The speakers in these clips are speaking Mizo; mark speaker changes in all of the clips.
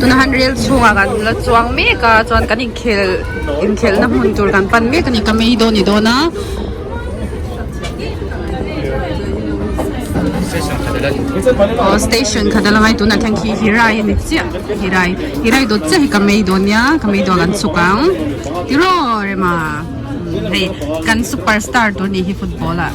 Speaker 1: tuna han rel chhung ah kan la chuang mek a chuan kan in khel in khel na hmun tur kan pan mek a ni ka mei dawn ni dawn a aw station khat a la ngai tuna thang khi hi rai a ni chiah hi rai hi rai dawt chiah hi ka mei dawn nia ka mei dawn kan chuk ang ti rawh rema hei kan superstar tur ni hi football ah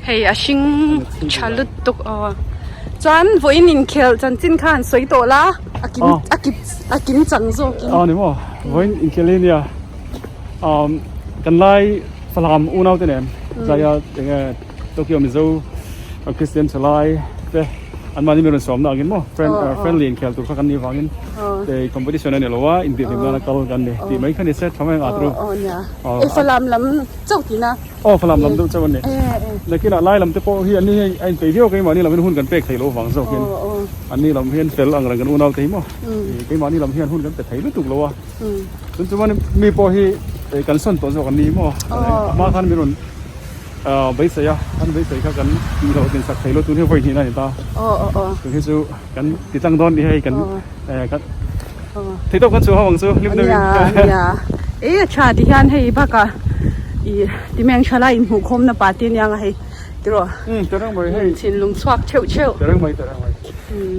Speaker 1: Hei a hring tha lutuk aw chuan vawiin inkhelh chanchin kha an sawi tawh la a kim a kip a kim chang zawk in aw ni maw vawiin
Speaker 2: inkhelh hi nia umm kan lai salam unau te nen zaia enge tokyo mizo kristian chulai te an mahni min rawn sawmna ang in maw friend friendly inkhelh tur kha kan nih vangin hei competition a ni lo a inbir hlimna na kal kan ni tih mai kha ni se tha mai ang a atu aw nia e salam
Speaker 1: lam chauh tina. Aw falam lam deuh chauh
Speaker 2: a ni. Nakinah lai lam te pawh hi an ni hei a inpei viau keimah ni lam hian hun kan pek thei lo vang zawk in an ni lam hian fel angreng kan unaute hi maw. Keimah ni lam hian hun kan pe thei lutuk lo a. Tin chuan mi pawh hi kan sawn tawh zawk an ni hi maw. A hma khan min rawn beisei a, an beisei kha kan tih lo tinsak thei lo tun hi vawi hnihna a ni ta. Tun hi chu. kan ti tlang dawn ni hei kan thei tawp kan suah ho
Speaker 1: ang chu hlim deuhin ania e a tha ti hian hei baka i timeng tha lai inhmuh khawm na party ania nga hei
Speaker 2: tiraw um te reng mai hei thinlum chhuak theuh
Speaker 1: theuh te reng mai te reng mai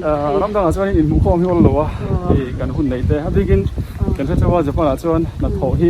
Speaker 1: a ram dang ah chuan inhmuh khawm hi awl lo a i kan hun nei te a bikin kan hre chauh a japan ah chuan hnathawh hi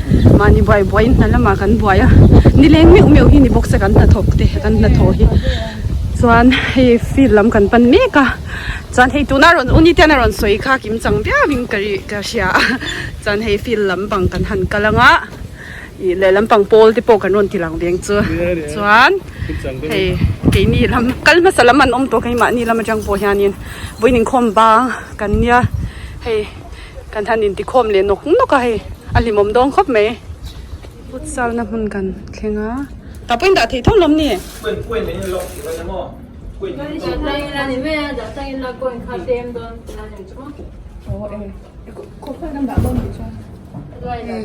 Speaker 2: Mahni buai buaiin hna lamah kan buai a, ni leng meuh meuh hi ni bawk se kan hna thawk te kan hna thaw hi.
Speaker 1: Chuan hei field lam kan pan mek a, chuan hei tuna rawn u nite'n a rawn sawi kha kim chang viauvin ka ri ka hria a, chuan hei field lampang kan han kal ang a, ih leh lampang pawl te pawh kan rawn ti lang veng chu, chuan hei keini lam kal hmasa lam an awm tawh kei mahni lam atang pawh hianin vawiin inkhawm bang kan nia hei. kan han in ti khawm leh nawk nawk a hei a hlimawm dawn khawp mai futsal na hmun kan thleng a tah pawhin dah theih thung lawm ni?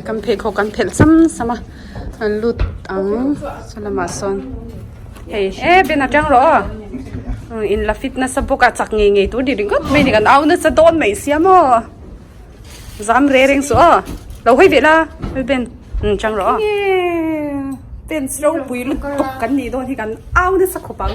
Speaker 1: Kan pheikhawk kan phelh sam sam a. An lut ang chu lamah sawn hei eh Ben atang rawh aw hmm in la fit nasa bawk a chak ngei ngei tur ni ringawt mai ni kan au nasa dawn mai sia maw zam re reng suh aw lo hawi ve la hoi Ben hmm chang rawh aw Ben ropui lutuk kan nih dawn hi kan au nasa khawp ang.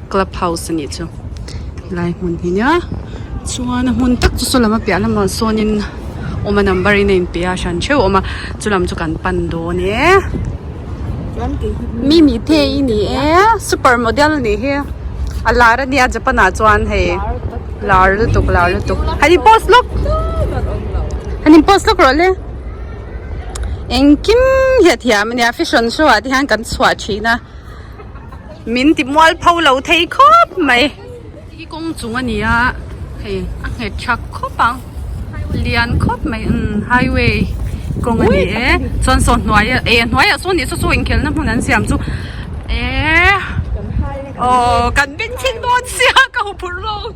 Speaker 1: club house a nih chu helai hmun hi nia chuan a hmun tak chu saw lama piah lamah sawnin awma number in a in peh a a hran theuh a awm a chu lam chu kan pan dawn e chuan kei hi hi mimi te i ni e super model a nih hi a lar a nia japan ah chuan hei lar lutuk lar lutuk han in post lawk han in post lawk rawh le engkim hliahthiam a nia fashion show ah te hian kan chhuah thin a. min ti mual pho lo thei khawp mai i kawng chung a ni a hei a nghet chak khawp a lian khawp mai a umm highway kawng a ni e chuan saw hnuaiah eh a hnuaiah sawn tih saw saw inkhelhna hmun an siam chu eehh aww kan binkhin dawn sia ka hmu phurh lawk.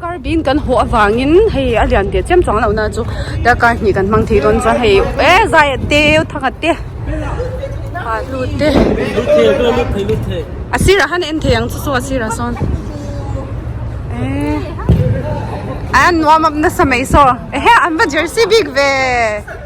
Speaker 1: Kar bîn kan hawh avangin hei a lian teh chiam chuang lohna chu darkar hnih kan hmang thei dawn chuan hei e zaiat te thanga te hahlu te a sirah han en thei ang chu chu a sirah sawn e an nuam nasa mai saw ehe an va jersey bik ve.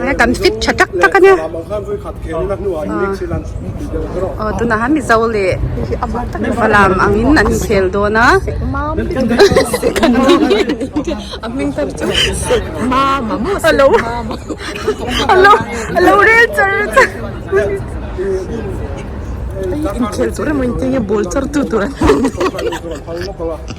Speaker 3: Aa kan fit tha tak tak ania aw tunahan mizo leh valam angin an inkhel dawn a a hming khan chu mama maw si alo alo alo rel char char inkhel tur emaw intih enge ball char tu tur an ni.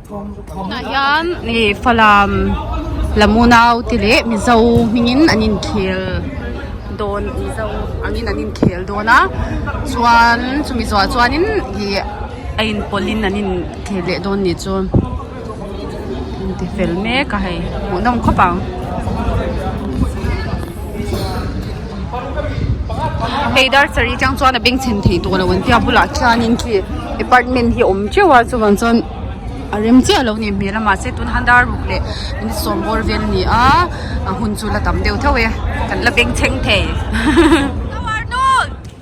Speaker 1: Tunah hian Falam Lamunau te leh Mizo hmingin an inkhel dawn Mizo angin an inkhel dawn a chuan chumi zawhah chuanin ih a inpawlhin an inkhel leh dawn nih chu an ti fel mek a hei hmuhnawm khawp ang. Hei dar sarih chang chuan a beng chhen thei tawh lo an tia a bulah khianin khi apartment hi a awm teuh a chuvang chuan a rem chiah lo a nih hmel a mahse tun han dar ruk leh inut sawm bawr vel a ni a a hun chu la tam deuh theuh e kan la beng chheng thei.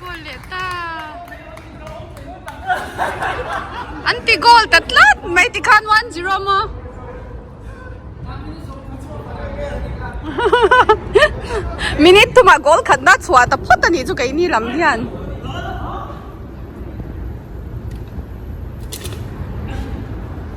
Speaker 1: Goal leh ta. Anti goal ta tlat mai ti khan 1-0 mo. Minute tu ma goal khat na chua ta phot ani chu kai ni lam hian.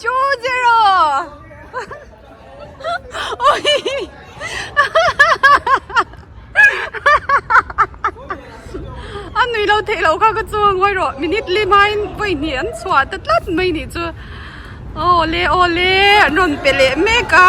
Speaker 1: two zero an nui lo theih loh kha ka chuang hawi rawh minute lima in vawi hnih an chhuah ta tlat mai nih chu awle awle an rawn pe leh mek a.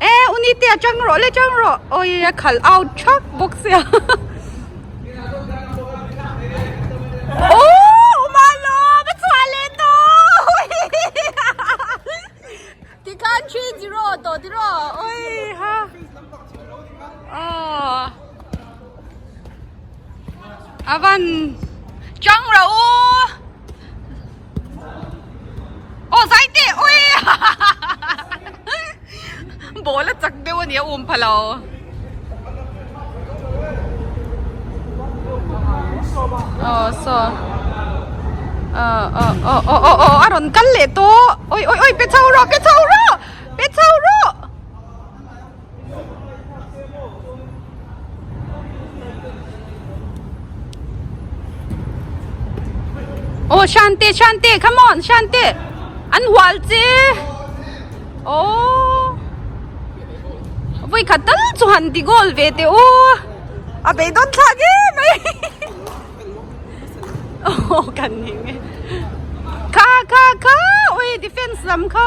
Speaker 1: E unite a chang rawh le chang rawh awii a khal out thak bawk sia oh umalo ka chhuah leh taww tikhan three zero tawh tiraw awii ha ah avan chang rawh u aw zai teh ui ball a chak deuh a nih a um pha lo aw so aw a rawn kal leh tawh ui ui ui pe chho rawh pe chho rawh pe chho rawh Oh, Shanti, Shanti, come on, Shanti. An hual chi. Oh. Voi khatal chu han ti gol ve te u. A be don tha ge mai. Oh, kan ni nge. Kha kha kha. Oi, defense lam kha.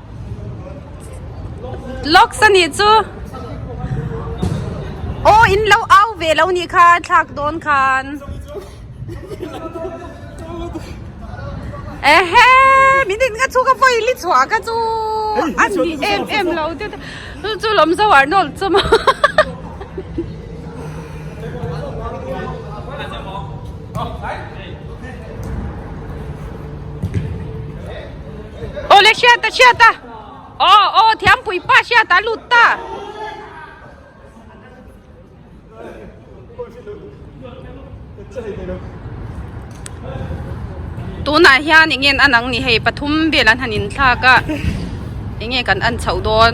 Speaker 1: Locks a nih chu Aw in lo au ve lo nih kha thlak dawn khan Ehe min in ka chu ka vawi li chhuah ka chu a nih em em lo te te chu chu lawm zo ah nawlh chu maw hahaha Ole hriat ta hriat ta. Oh oh thiam pui pa hriat ta lut ta. Tuna hian ingen anang ni hei pathum vel an han in thlak a. Enge kan an chhoh dawn.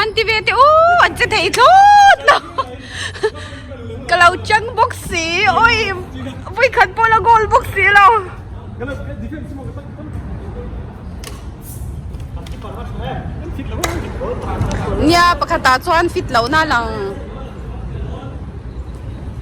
Speaker 1: An ti ve te u an che thei thlawt lo ka lo chang bawk si oi vui khat pawh la goal bawk si lo nia pakhatah chuan fit lohna lang.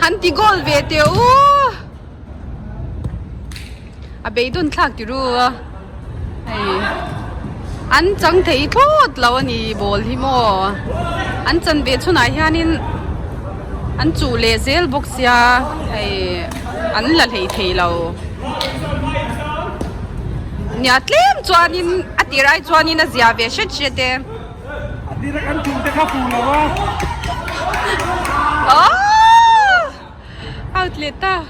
Speaker 1: han ti goal ve teh u a bei dawn thlak teh ru a hei an chang thei thlawt lo a ni ball hi maw an chanve chhunah hianin-- An chuh leh zel bawk sia hei an la hlei thei lo nia tlem chuanin a tir ai chuanin a zia ve hret hret e a tir a
Speaker 2: kan chung te kha pu lo a aww
Speaker 1: hau tleta.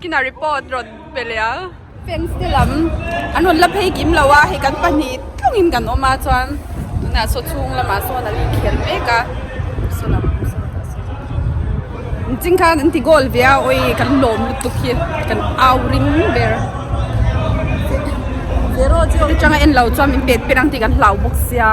Speaker 1: Kinah report rawt pe leh a. Fans te lam an rawn la phei kim lo a, hei kan pahnih tlangin kan awm a chuan tunah saw chhung lamah sawn an inkhel mek a, saw lam pawh saw tah sawn inching khan an ti goal ve a, awi kan lawm lutuk hi kan au ring ber. Zero zero atanga en lo chuan min pet pet ang tih kan hlau bawk sia.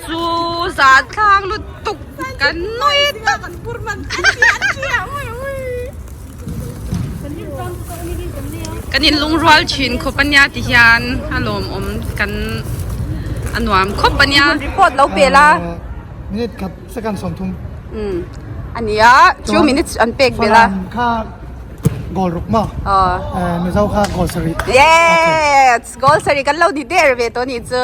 Speaker 1: Chu zan tlang lutuk kan nawi tak. Kan in lungrual thin khawp a nia ti hian a lawm awm kan a nuam khawp a nia. Report lo pe la. Minute khat
Speaker 4: second sawm thum. Um a nia
Speaker 1: chu minutes an pek ve la. Falam kha goal ruk
Speaker 4: maw? Aww. Mizo kha goal sarih.
Speaker 1: Yes goal sarih kan lo ni der ve tawh a nih chu.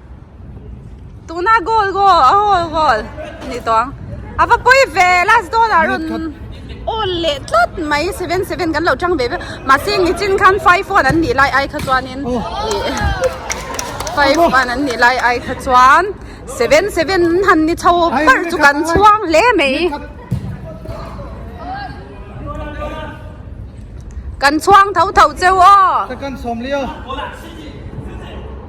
Speaker 1: tuna goal goal a goal goal a nih tawh ang a va pawi ve last goal ah rawn awl leh tlat mai seven seven kan lo chang ve viau mahse heng ichin khan five one an nih lai ai kha chuanin five one an nih lai ai kha chuan seven seven han ni chho ber chu kan chhuang hle mai
Speaker 4: kan chhuang tho tho cheu aw.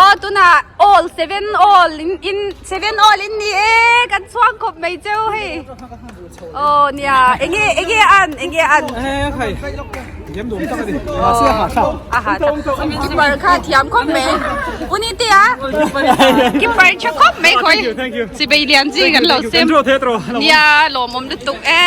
Speaker 1: Aw tunah all seven all in seven all in ni e kan chuang khawp mai cheu hei aw nia enge enge an enge an
Speaker 3: keeper kha thiam khawp mai uni te a
Speaker 1: keeper tha khawp mai khawih sibei lian chi kan lo sem nia lawmawm lutuk e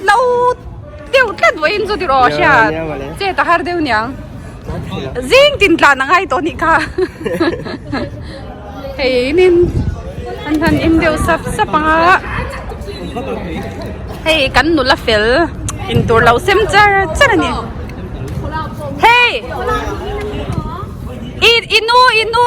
Speaker 5: Hlo deuh tlat vawin chu tih rawh a hriat. Che ta har deuh niang.
Speaker 1: Zing tin tlan a ngai tawh anih kha. Hei in in an han in deuh sap sap ang a. Hei kan nula fel in tur lo sem char char a ni. Hei! I i nu i nu.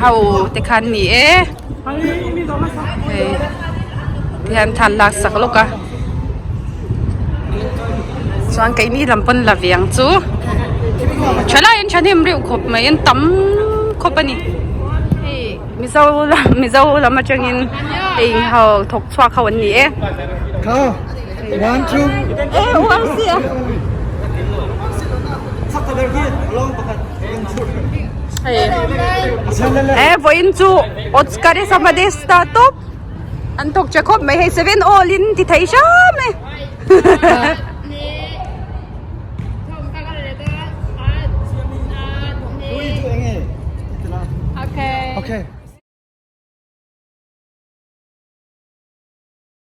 Speaker 1: Ho te khan ni e hei te hian than lak sak lawk a chuan kei ni lam pawn la veng chu tha lai
Speaker 4: in tha hnem reuh khawp mai in tam khawp a ni hei mizo lam mizo lam atangin hei ho thawk chhuak ho an ni e. One two. Eh uar
Speaker 1: si a. Eh voin chu Oscar e sama de star top. An tok che khop mai hei seven all in ti thai sha me. Okay.
Speaker 4: Okay.